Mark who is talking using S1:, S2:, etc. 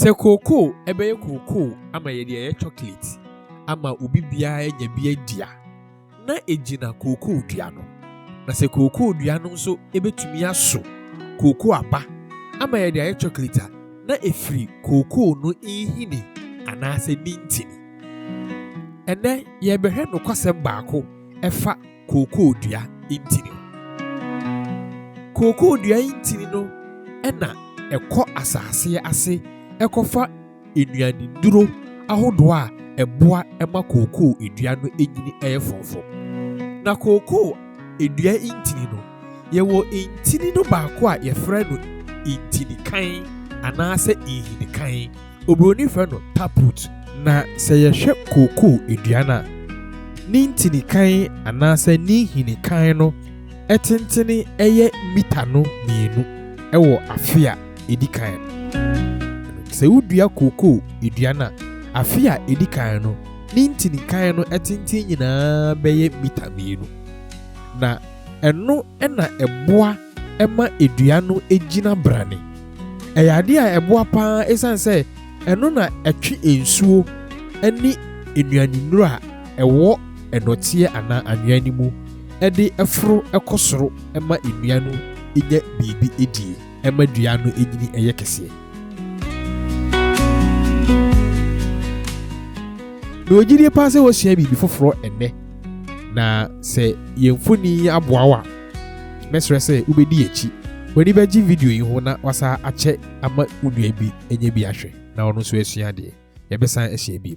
S1: Sɛ kookoo ɛbɛyɛ kookoo ama yɛde ayɛ chocolate ama obi biara anya bi adi a, na egyina kookoo dua no. Na sɛ kookoo dua no nso ebetumi aso kookoo aba ama yɛde ayɛ chocolate a, na efiri kookoo no nhini anaasɛ ne ntini. Ɛnnɛ yɛrebɛhwɛ nokwasɛm baako ɛfa kookoo dua ntini ho. Kookoo dua ntini no na ɛkɔ asase ase kɔfa nnuannuro ahodoɔ a ɛboa ma kookoo dua no nyini yɛ frɔmfrɔm. Na kookoo dua ntini no, yɛwɔ ntini no baako a yɛfrɛ no ntinikan anaasɛ nhinikan. Oburoni frɛ no taproot. Na sɛ yɛhwɛ kookoo aduan a, ne ntini kann anaasɛ ne nhini kann no tentene yɛ mita no mmienu wɔ afe a edi kan no. Ɛno sɛ wodua kookoo aduan a, afe a edi kan no, ne ntini kann no tenten nyinaa bɛyɛ mita mmienu. Na ɛno na ɛboa. ɛma dua no gyina brane. Ɛyɛ ade a ɛboa pa ara esiane sɛ ɛno na ɛtwe nsuo ne nnuanennuro a ɛwɔ nnɔteɛ anaa anwea no mu de foro kɔ soro ma nnua no nya biribi di, ɛma dua no nyini yɛ kɛseɛ. Mewɔ gyidie pa ara sɛ woasua biribi foforɔ ɛnnɛ, na sɛ yɛn mfonin yi aboa wo a, Mɛsrɛ sɛ wobɛdi akyi. W'ani bɛgye video yi ho na wasan akyɛ ama wo nua bi anya bi ahwɛ na ɔno nso asua adeɛ. Yɛbɛsan ahyia bio.